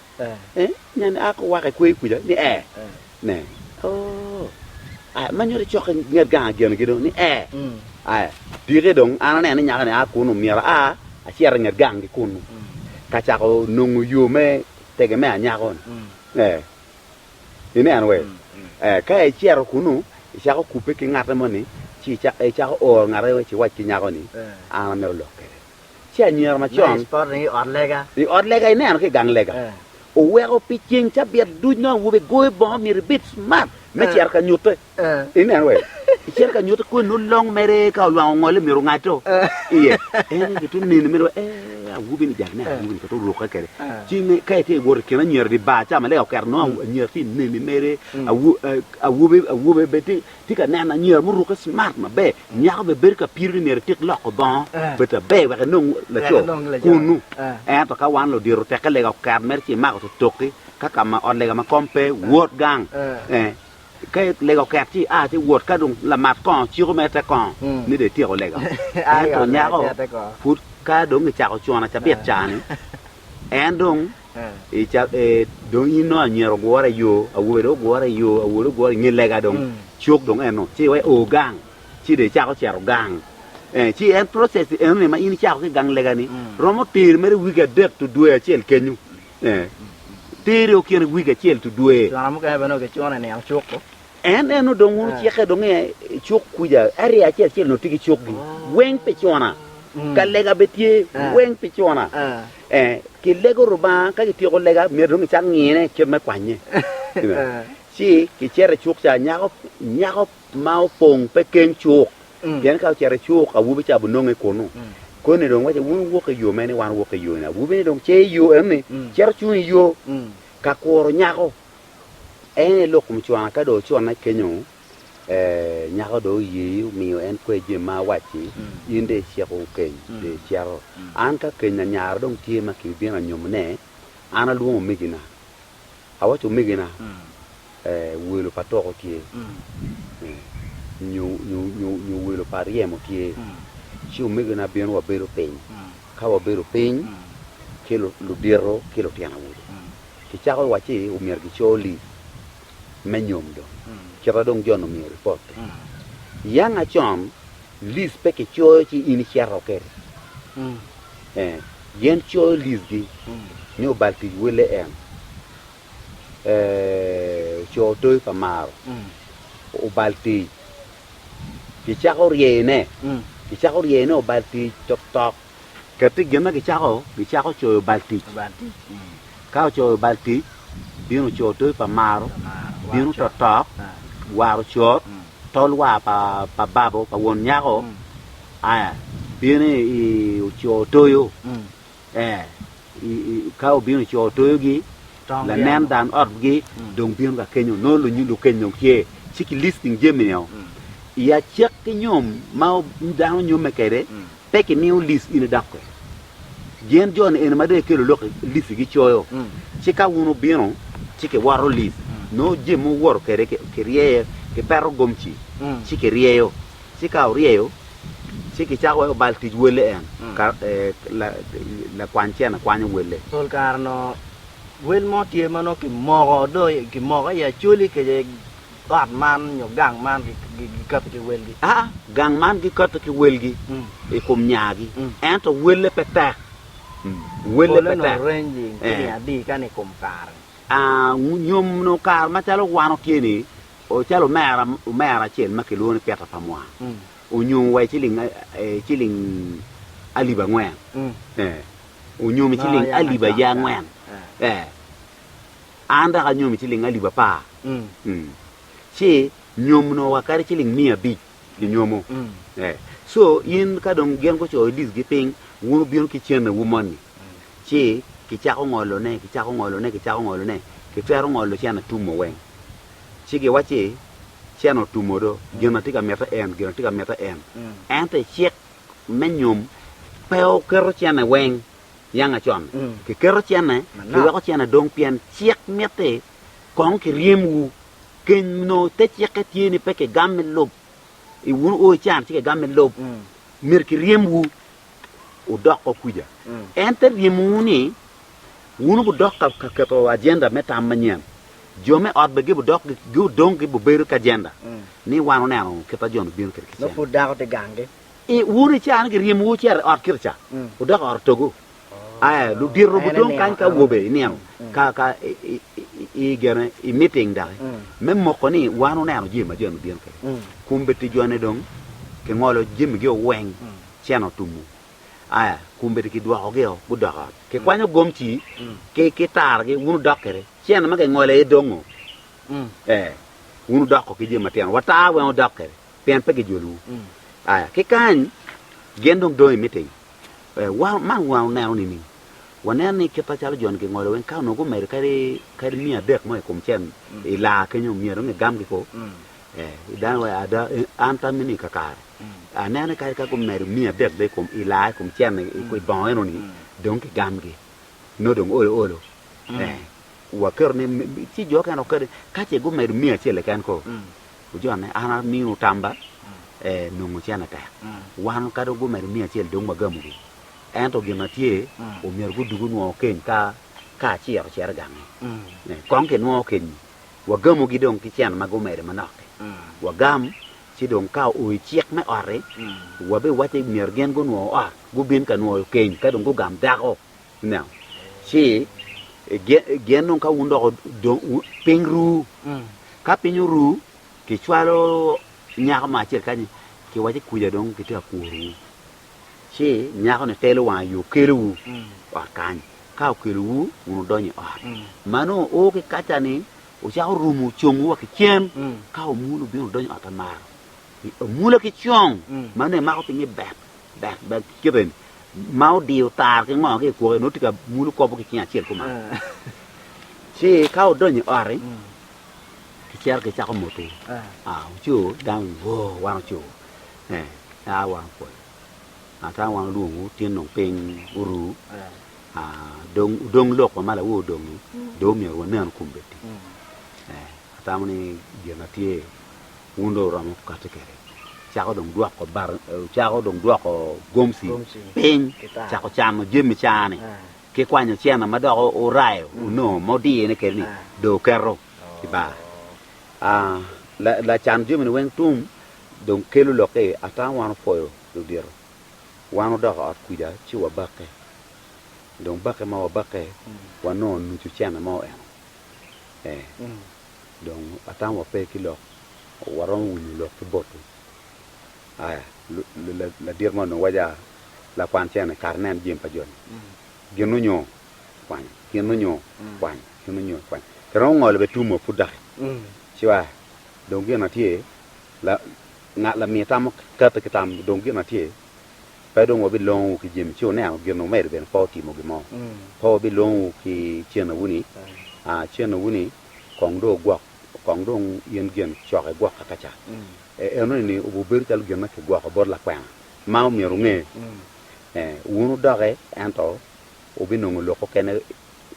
Nyen a ki waka i kweyo kuca ni ee, ne, oo, aya, ma nyuto cok ki nget gang agenogi dong ni ee, aya, apike dong, an aneno ni nyaka-ni a kunu, myero aa acit i nget gang-gi kunu, ka cako nongo yo me tege me anyako-ni. Ee, ineno wee? Ee, ka icito kunu, icako kubbe ki ngatte moni, ci ica- icako oro ngatte ci iwac ki nyako-ni, an amito lok kwede. Ci anyira macon i ot lega ineno ki i gang lega oweko pi ceng cabit duc nongo awobe goyo bongo myero ibed smart me cito ka nyutte ineno wek icito ka nyutte koni nongo long mere ka olwango ongole myero ongaddo iye en gitye neni mere wa ee awobi ni jaki neno awobi ni peya orukke kwede ci ka itye wot i kin anyira i di bar ca ma lega oketo nongo anyira tye neni mere awobe awobe bene tye tye ka neno anyira murukke smart maber, nyako bene bedo ka piro ni myero etik loko bongo bedo aber wek enong laco kunnu. Ento ka wan ludito tekke lega oket mere ci imako totoki ka ka ma ot lega ma kom pe, wot gang. Ka lega oket ci ia ci wot, ka dong lamat kongo ciko mere te kongo ni dong ityeko lega. Ento nyako pud ka dong kicako cuna cabit ca-ni en dong I ca e dong in nongo anyira ogure i yo, awobe dong ogure i yo, awol ogure i nge lega dong cuk dong eno ci iwe o gang ci dong icako cito gang. Eh, ci en process eno ni ma in icako ki gang lega ni romo teri mere wiki adek to dwe acel kenyu. Eh, teri o kine wiki acel to dwe. Cwana mukene bene gicuno i niang cuk o. En en odong wunu ceke dong i cuk kuca, area acel acel onongo tye ki cukgi weng pi cona, ka lega bene tye weng pi cona. Ee, kilego Lubanga, ka kityeko lega, myero dong kicak ngine kit me kwanye. Ci kicito i cuk ca, nyako nyako ma opong pe keng cuk, pien ka ocito i cuk awobi ca binonge kunu. Koni dong wacce, wun wuwok i yo mene, wan wuwok i yoni. Awobi-ni dong ce i yo enoni, cito cung i yo ka kuro nyako. En aye lok mucwana ka dong ocwane kenyo, ee, nyako dong oye omiyo en kwer jami ma awacci, in dong iciko wukeny, dong icito. An ka keny anyara dong tye ma kibibino anyomone, an alwongo omegina, awacci omegina, ee, welo pa toko tye, ee, nyo, nyo, nyo, nyo welo pa ryemo tye, ci omegina bino wabedo piny, ka wabedo piny, ci lu, ludito ki lutino awobe. Kicako wacci omyero gico lim me nyom dong kit ma dong Jon omiyo ripot-ti. I yang acon, lis pe kicoyo ci in icito kwede. Ee, gin coyo lisgi ni obal tic welle en ee oco toyi pa maro, obal tic. Kicako ryeyone, kicako ryeyone obal tic toktok. Ket pi gin ma gicako, gicako coyo bal tic. Ka ocoyo bal tic, bino co toyo pa maro, bino totok, waro cot, tol war pa babo, pa won nyako, aya, bino i oco toyo, ee, ka obino oco toyogi, lanen dan otgi dong bino ka kenyo, nongo lukeny dong tye, ci ki listing jami-nio, i acek ki nyom ma dano nyomme kede, Pe kimiyo lis in idok kwede. Gen jo-ni eni ma dong ikelo lok i lis-si gicoyo, ci ka wun wubino ci kiwoto lis, nongo jami ma wuwoto kwede kiryeyo, kipeto gomci ci kiryeyo. Ci ka oryeyo, ci kicako weko bal tic welle en, lakwany cene kwanyo welle. Pol kare onongo wel mo tye ma nongo kimoko dong kimoko i Acholi kece. Ot man nyo gang man gikato ki welgi? Aa, gang man gikato ki welgi i kom nyagi, ento welle pe tek. Welle pe tek. Pole-ni oreny i nge adika ni i kom kare. Aa, nyo nongo kare macalo wan otye-ni, calo omera, omera acel ma kilwongo ni Peter Pamwa onyom wa i ciling, ciling alip angwen. Ee, onyom i ciling alip aye angwen. Ee. An dok anyomi ciling alip apar, ci nyomno wa kadi ciling miya abic i nyomo. Co in ka dong gin gucoyo dicgi piny, wun wubino ki cennewu moni. Ci kicako ngolone, kicako ngolone, kicako ngolone, kitwero ngolo cen atumo weng. Ci giwacci, Cen otumo do, gin atye ka mite en, gin atye ka mite en. Ento i cik me nyom pe oketo cene weng. yanga con, kiketo cene, kiweko cene dong pien cik mitte kong kiryemwu. Keny nongo te cikke tye ni pe kigamme lub, i wun o ican ci kigamme lub, myero kiryemwu wudok o kwica. En te ryemowu ni wun wudok ka keto agenda me tam manyen. Jo me ot bene gibidok dong gibibedo ki agenda ni wan wuneno kit ma Jon obino kwede ki cene. Wun i caa-ni giryemowu wucito i ot kica, wudok i ot otogu. Aa, ludito gudong kany ka awobe i nino ka ka i gene i miting doki, me moko ni wan wuneno jami ma jo-ni bino kwede. Kumbe ti jo-ni dong kingolo jamigio weng, cene otumu. Aa, kumbe ti kidwokogio gudok i ot. Kikwanyo gomci ki ki targi, wun wudok kwede. Cene ma kingolo aye dongo. Ee, wun wudoko ki jami matino. Watar weng wudok kwede. pien pe gijolowu. Aya ki kany, gin dong dong imiting. Eh, wa, man wa oneno nining? Waneno ni kit macalo jo-ni gingolo weng, ka onongo gumedo kadi, kadi miya adek mo i kom cen i laa kenyo, myero dong gigam kiko. Eh, i dano wa, ada, eh, an tammi-ni kakare, aneno ni kadi ka gumedo miya adek be i kom, i laa i kom cen i, i bongo eno-ni, dong gigamgi. Nongo dong olo olo. Eh, waketo ni, mi- mi- ci jo okene, okene, ka ce gumedo miya acel keken ko, Ojone, an amiwu tamba, ee, nongo cene tek. Wan kadi gumedo miyo acel dong wagamogi. Ento gin ma tye, omyero gudug onwongo keny ka ka aciro ocito i gange. Ee, kong kinwongo keny-nyi, wagamogi dong ki cene ma gumedo manok-ki. Wagam, ci dong ka oo i cik me ot-ti, wabiwacci myero gin gunwo ot, gubin ka nwoyo keny, ka dong gugam dako. Ineno? Ci ge- gen dong ka wun dok wu- dong wu- piny ru, ka piny oru, kicwalo nyako mo acel kany, kiwaco kuja dong kitye ka kworu. Ci nyako-ni telo wang aye okelowu ot kany. Ka okelowu, wun wudonyo i ot. Ma nongo o ki kaca-ni, wucako rumo congwu wa ki cen, ka omul obino odonyo i ot amaro. Amula ki cong, ma nongo imako pinye bek. Dak bed kite ma odiyo tar ki ngo ki i kwoke, nongo tye ka mulo kop-pu ki cinge acel kuman. Ci ka wudonyo i ot-ti, kicito kicako moto wucu, dang wo wan ocu, a wan opwoyo, ka wan olwongowu tin dong piny oru, dong wudong lok wa ma lawo odong-ngi, dong omyero wanen kun bed tic. Atamo ni gin na tye. Wun dong wuromo kati kwede. Wucako dong dwoko bar, wucako dong dwoko gomci piny, cako camo jami caa-ni, ki kwanyo cene ma dok wurayo wunongo ma wudiyone kwede-ni, dong wuketo i bar. Lacan jami-ni weng tum dong kelo lokke, ata wan wupwoyo ludito, wan wudoko ot kwija ci wabakke. Dong bakke ma wabakke, wanongo nucu cene mo eno. dong atamo wa pe ki lok waromo winyo lok ki botu. Aya, ladit mo onongo waco lakwan cene ni kara nen jami pa joni, gin onyo kwanyo, gin onyo kwanyo, gin onyo kwanyo. Kiromo ngolo bene tum wa pud doki ci wa dong gin atye ngat lamir tamo kati ki tam dong gin atye. Pe dong wabilongowu ki jami ci wuniang gin wumedo bene pe wutimo gin mo. Pe wabilongowu ki cenowu-ni, aa, cenowu-ni kong dong wugwok, kong dong in gen coko igwok ka kaca. E, enoni ni obubedo calo gin ma kigwoko bot lakwena ma omyero wunge, ee, wun wudokke, ento wubinongo lok okene,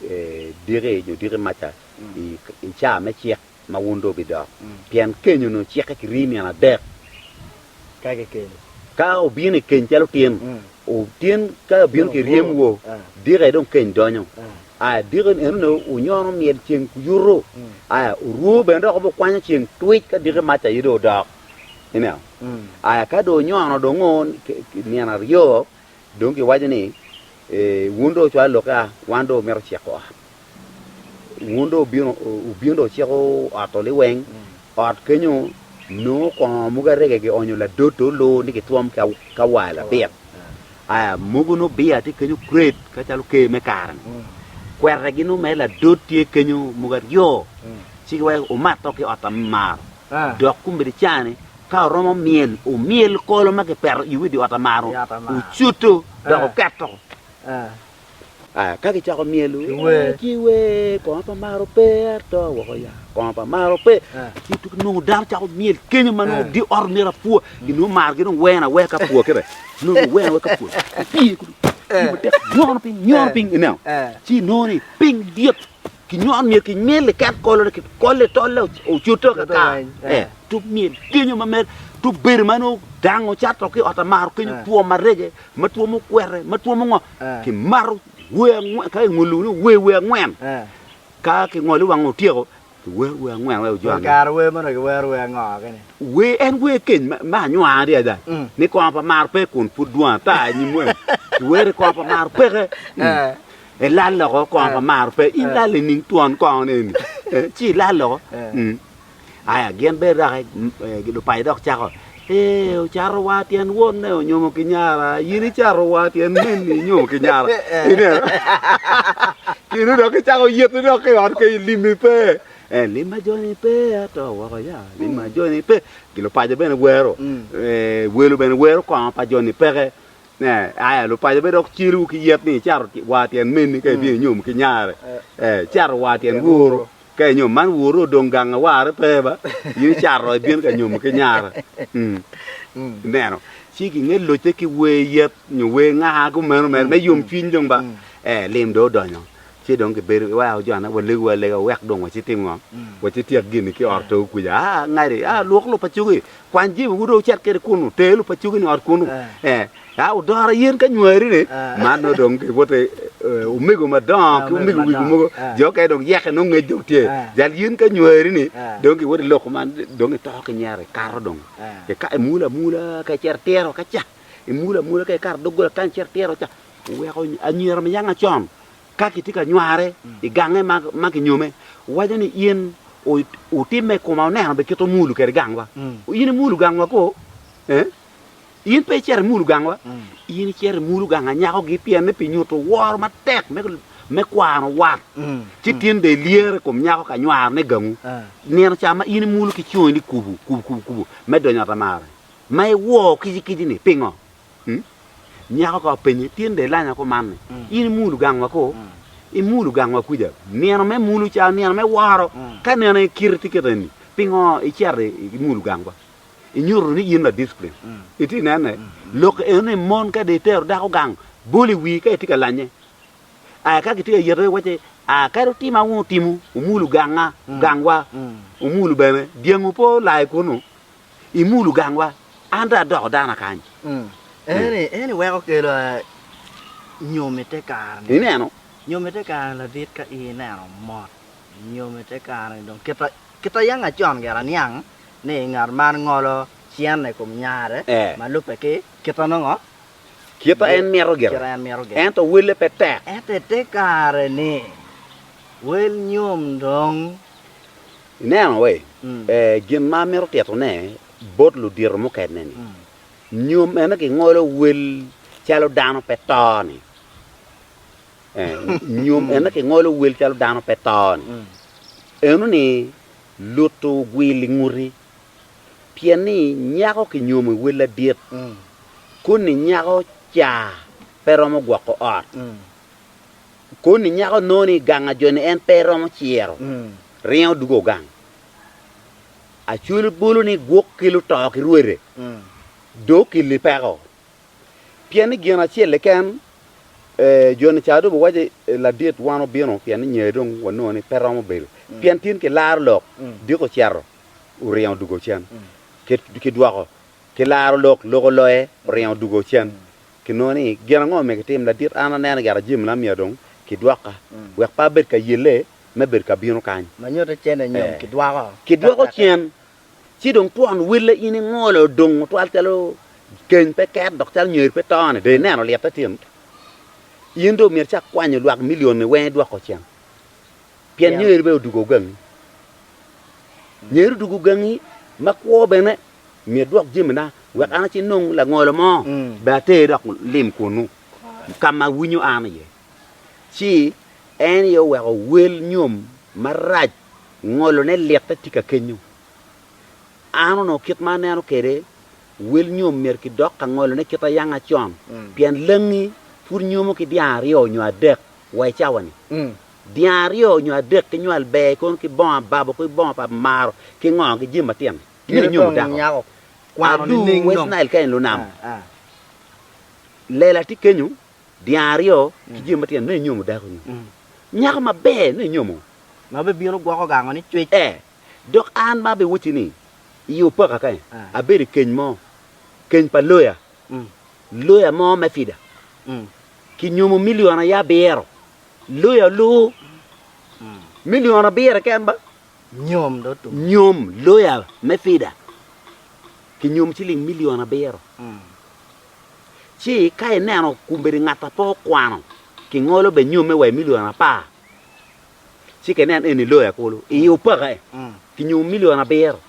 ee, diki nyo diki maca i, i caa me cik. ma wun dong wubidok, pien keny onongo cikke ki rii nino adek. Ka kikeny. Ka obino i keny calo tyen, tyen ka obino ki ryem woo, dika aye dong keny donyo. Aya, dika en onongo onyono myel ceng kuyuto. Aya, oruu bene dok obikwanyo ceng twic ka dika mac aye dong odok. Ineno? Aya, ka dong onyono dong o nino aryo, Dong giwaco ni, Wun dong wucwalo lokke a, wan dong wamito ciko ot. Wun dong wubino, wubino dong wuciko ot to liweng. Ot kenyo nongo kongo mogo arege gionyo ladoto olu ni gitwom ki kawaya labit. Aya, mogo nongo bia tye kenyo kret ka calo ker me kare-ni. Kwetegi nongo mere ladot tye kenyo mogo aryo. Ci giwaco, Wumat dok ki ot a me maro. Dok kombeddi caa-ni, ka oromo myel, omyel kolo ma kipeto i udi otamaro, ocuto dok oketo. Ka kicako myelo, ci wer, Kongo pa maro pe, ato woko ya, kongo pa maro pe. Ci tuki nongo dano cako myel kenyo ma nongo di ot myero apwa, ginongo mar gi dong wena wek apwa kebe, nongo wena wek apwa. Apiye kudu, apiye matek, nyono piny, nyono piny, ineno. Ci nongo ni piny dit. Kinywon myel ki myel iket kolone ki kolle tolle ocuto kaka eh, to myel genyo ma mer to bedo ma nongo dango cato ki ot amaro kenyo eh. two marege ma two mukwere ma two mungo eh. ki maro we angwen ka ingolo ni we we angwen eh. ka ki ngolo wang otyeko ki wer we angwen we ojwa kar we mano ki wer we ango kene we en we keny ma anywa adi ada mm. ni kongo pa maro pe kun pud dwa ta nyimwe ki wer kongo pa maro peke eh. mm. I lal loko kongo pa maro pe in lal i ning twon kongo ni eni ci ilal loko aya gin bene doki lupaco dok cako ee ocato wa tyen wonne onyomo ki nyara in icato wa tyen minni inyomo ki nyara ineno kine dok icako yiti dok ki ot kenyo limi pe eh limma joni pe ato woko ya limma joni pe lupaco bene wero welo bene wero kongo pa joni peke Ne, aya lupaco pe dok celowu ki yet ni icato war tyen menni ka ibino inyom ki nyare, ee, icato war tyen woro ka inyom. Man woro odong gang awarre pe ba, in icato ibino ka nyom ki nyare. Ineno? Ci kinge locce ki wer yet nyo wer ŋaa kumeno mere me yom cwiny dong ba, ee, lim dong odonyo. Ci dong kibedo iweko jone walegu alega wek dong waci tim ngo? Waci tyek gini ki ot togo kwica, aa, ngadi, aa, lwok lupacogi, Kwany jami wun dong wucit kwede kunnu, ter lub pa cogi-ni i ot kunnu, eka wudora yen ka nywari-ni. Man nongo dong giwoto omego madongo ki omego wigo mogo, jo mukene dong yeke nongo ngec dong tye. Jal yen ka nywari-ni dong giwoto i lok kuman, dong itoko ki nyero ikato dong, eka imulo amula ka icito itiro ka ca, imulo amula ka ikato doggola kany icito itiro ca, weko anywiro ma yanga con. Ka kitye ka nywarre i gange ma kinyome, waco ni, 'In wutimme i koma oneno bene kit omulu kwede gangwa. In imulu gangwa koo? Ee, in pe icito imulu gangwa? In icito imulu gang anyakogi pienni pi nyuto woro matek me kwano wat, ci tin dong ilyere i kom nyako ka nywarone i gangu. Nino ca ma in imulu ki coni ni kubu, kubu, kubu, kubu, me donyo ot amara, ma iwoo kicikicini, pingo? Nyako ka openye, Tin dong ilanya kuman ni in imulu gangwa ko? Imulu gangwa kwica nino me mulu ca nino me woro? Ka nino aye kite tye kit eni, pingo icito imulu gangwa? Inyuto ni in ladicplin. Itye ka nene? Lok eno ni mon ka dong itero dako gang, bol i wii ka itye ka lanye. Aa ka kitye ka yete iwac ni, Aa kadi otima wun otimo, omulu ganga, gangwa, omulu bene. Dyangu pe olai kunu. imulo gangwa, an dong adoko dano akany. Ento en iweko kelo nyom i te kare-ni. Ineno? Nyom i te kare-ni ladit ka in ineno mot. Nyom i te kare-ni dong kita, kita yeng acon gire aniang ni ngat man ngolo cente i kom nyare ma lubbe ki kita nongo, kita en mito gire, kita en mito gire. Ento welle pe tek. Ento i te kare-ni, wel nyom dong Ineno wai gin ma amito titone bot ludito mukene-ni? Nyo meno gingolo wel calo dano pe to-ni? Nyo meno gingolo wel calo dano pe to-ni? Enoni luto ogwil i nguti, pien ni nyako kinyomo i wel adit, koni nyako ca pe romo gwoko ot? Koni nyako nongo ni ganga joni en pe romo ciro, ringo dugo ogang. Acwelo bolo ni gwok ki luto ki rwede dong okilli peko. Pien ni gin acel keken joni ca dong biwaco ni ladit wan obino pien ni nyer dong wanongo ni pe romo bedo. Pien tin kilaro lok diko ocito oringo odugo cen. Kidwoko kilaro lok, lok oloye oringo odugo cen. Kinongo ni, gin ango ma myero kitim? Ladit, an aneno gire jami na myero dong kidwoka, wek pe abed ka yelle me bedo ka bino kany. Ma nyutte cene nyo kidwoko. Kidwoko cen, ci dong twon welle in ingolo odong otwal calo keny pe ket dok calo nyer pe to-ni, dong ineno lite tin. In dong myero icak kwanyo lwak milion-ni weng idwoko cen, pien nyeri bene odwogo gangi. Nyeri odwogo gangi ma kwo bene Myero idwok jamina wek an acin nong langolo mo bene ater dok lim kunnu ka ma winyo an iye. Ci en aye oweko wel nyom marac ngolone litte tika kenyo. An onongo kit ma aneno kwede, wel nyom myero kidok ka ngolone kit ayanga con, pien langi pud nyomo ki dyang aryo nyo adek wa i cawa-ni. Dyang aryo nyo adek kinywal ber kono ki bongo ababo ki bongo pa maro ki ngo ki jami matino-ni. Kite dong nyako kwano nining West Nile ka en lunam? Lela tye kenyo, dyang aryo ki jami matino nongo inyomo dako nyo nyako maber nongo inyomo. Ma bibino gwoko gango ni cwic. Ee, dok an ma abiwocci ni i opaka ka abedo i keny mo, keny pa loya, loya mo me fida, ki nyomo milion aye abiro, loya olur, milion abiro keken ba. nyom loya me fida kinyom ciling milion abiro, ci ka ineno kombeddi ngat a pe okwano kingolo bene nyomme wa i milion apar, ci ka ineno eni loya kulu iye opake kinyom milion abiro.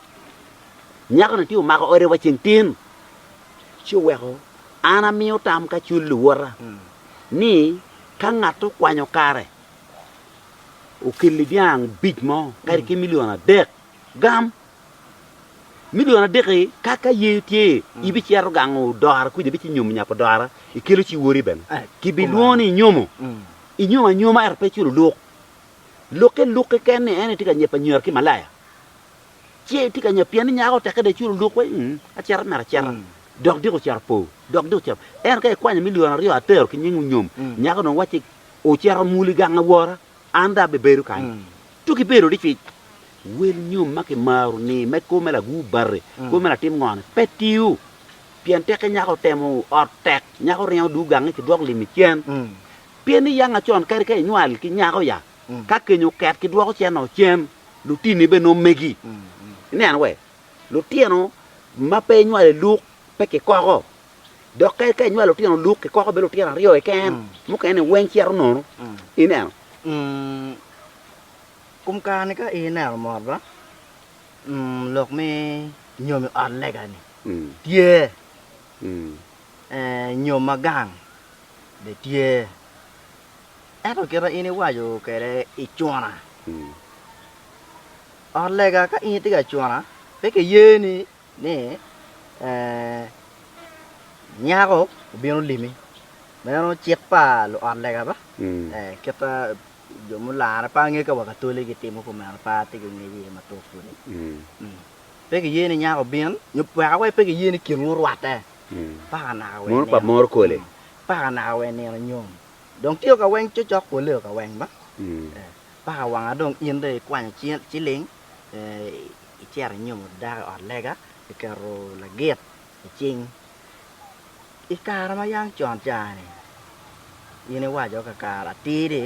Nyako-ni tye omako ode wa ceng tin, ci oweko an amiyo tam ka cul luwota ni ka ngat okwanyo kare okelli dyang bic mo kadi ki milion adek, gam milion adek-ki ka ka ye tye ibicito gango odora kuca ibici nyomo nyap odora ikelo ci wori bene kibilwongo ni inyomo, inyomo anyoma ento pe iculo luk, lukke luk keken ni en aye tye ka nyep anywera ki malaya ci itye ka nyep pien ni nyako teke dong iculo luk wai acito myero acita dok dyek ocito po dok dyek ocito po ento ka ikwanyo milion aryo atero ki nying onyom nyako dong wacci ocito mul i gang awora, an dong abibedo kany. Tuk i bedo dicwic, wel nyom ma kimaro ni me kwo me lagur bati, kwo me latim ngo-ni pe tiyo. Pien tekke nyako otemo ot tek, nyako ringo duu gangi ki dwok lim i cen. Pien ni yang acon kadi ka inywal ki nyako ya, ka keny oket kidwoko cen ot cen, lutinni bene nongo megi. Ineno we? Lutino ma pe inywalo i luk pe kikoko. dok ka eka inywalo lutino luk kikoko bedo lutino aryo keken mm. mukene ni weng cito nono mm. ineno mm. kum kani ka ineno mot ba lok mi nyom i ot lega ni tye eh, nyom ma gang be tye ento kita in iwaco kede icuna ot lega ka in itye ka cuna pe kiyeni ni, Nyako obino limi. Meno cik pa luot lega ba? Ee, kit ma jo mularre pe ange ka Wakatoliki gitimo kumeno pe atye ki ngec iye matut pwod-di. Pe kiye ni nyako obin, nyo weka wai pe kiye ni kinwu orwatte mpaka naka wai nino, mpaka naka wai nino nyom. Dong tye o ka weng cokcok pwolle o ka weng ba? Ee, mpaka wanga dong in dong ikwanyo ciling, ee, Icito inyomo dako i ot lega, iketo lagit i cing. I kare ma yam con ca-ni, in iwaco kakare atir ni,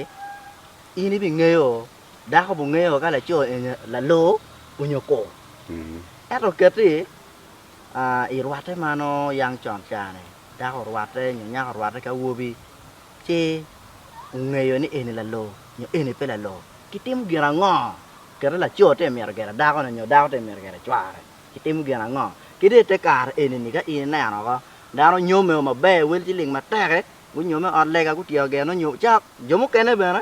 in ibingeyo, dako obingeyo ka laco eni laloo onyo ko. Ento kiti irwatte ma nongo yam con ca-ni, dako orwatte nyo nyako orwatte ki awobi, ci ongeyo ni eni laloo nyo eni pe laloo, kitimo gin ango? Kite laco tye ka mito gero dakone nyo dako tye ka mito gero cware, kitimo gin ango? Ki dong i te kare eni-ni, ka in ineno woko, dano onyome o maber, wel ci ling matek-ki, gunyome i ot lega, gutyeko geno nyo caa jo mukene bene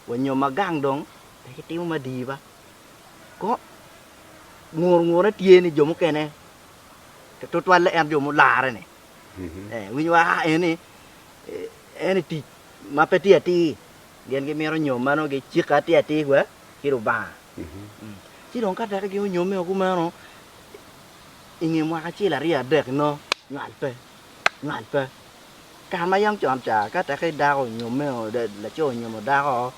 wanyo ma gang dong pe gitimo ma dii ba. Ko ngurngurne tye ni jo mukene tutwalle en jo mularre-ni, ee, winyo wa aa eni eni tic ma pe tye atir, gin gimito nyom ma nongo gicikke atir atir wa ki Lubanga. Ci dong ka dok ginyomme o kumeno, i nge mwaka acel aryo adek nongo nywal pe, nywal pe. Kare ma yam con ca ka dako onyomme o, laco onyomo dako o,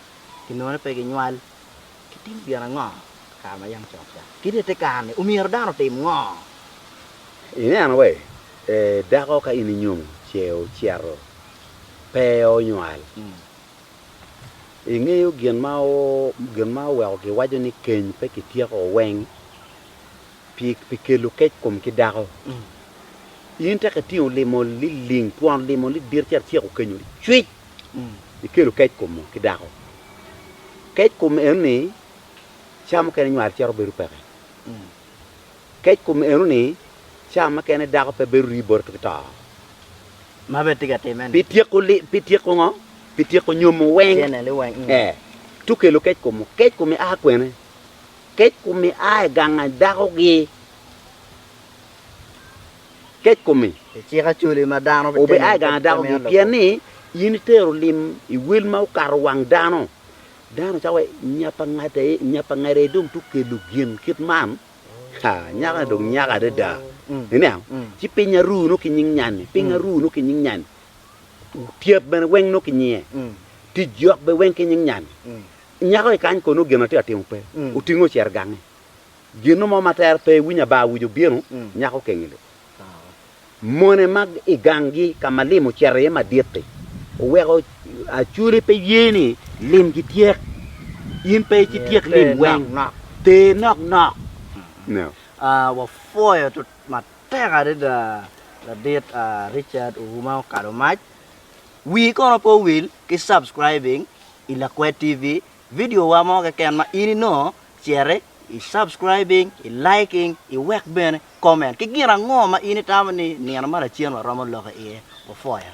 kinongo ni pe ginywal. Kitimo gin ango i kare ma yam cok ca? Kit ite kare-ni, omyero dano otim ngo? Ineno wai, dako ka in inyomo ce ocito pe onywal, ingeyo gin ma oweko giwaco ni keny pe kityeko weng? Pi kelo kec kom ki dako, in tek itingo limo liling twon limo lidit ci atyeko kenyo cwic ikelo kec kom ki dako. Kec kom eno ni cawa mukene nywal cito bedo peke. Kec kom eno ni cawa mukene dako pe bedo rii bote ki to. Ma bene tye ka timme ni. Pi tyeko pi tyeko ngo? Pi tyeko nyomo weng. Cene li weng. Ee. Tukelo kec kom. Kec kom ia kwene? Kec kumi a i gang dakogi. Kec kumi. I cik acoli ma dano bitimo obi a i gang dakogi, pien ni in itero lim i wel ma okato wang dano. Dano cako wai, Nyapa ngada e, nyapa ngada e dong tye kelo gin kit man? Ha, nyaka ni dong nyaka adada! Iniang? Ci piny aru nongo ki nying nyan-ni, piny aru nongo ki nying nyan-ni, tyep bene weng nongo ki nyinge, tic jok bene weng ki nying nyan-ni. Nyako i kany kono gin atye ka timo pe, otinge ocito gange. Gino mo ma tere pe iwinyo ba awic obino, nyako kenge lub. Mone ma i ganggi ka ma lim ocito iye madit-ti oweko Acoli pe ye ni lim gityek. In pe ci tyek lim weng, ter nok nok. Wapwoyo matek adada ladit Richard Ouma Okalomac. Wii kono pe owil ki subscribing i Lakwed TV video wa mo keken ma in inongo cere i subscribing, i liking, i wek bene comment ki gin ango ma in itamo ni nino ma lacen wa romo loko iye, ofoya.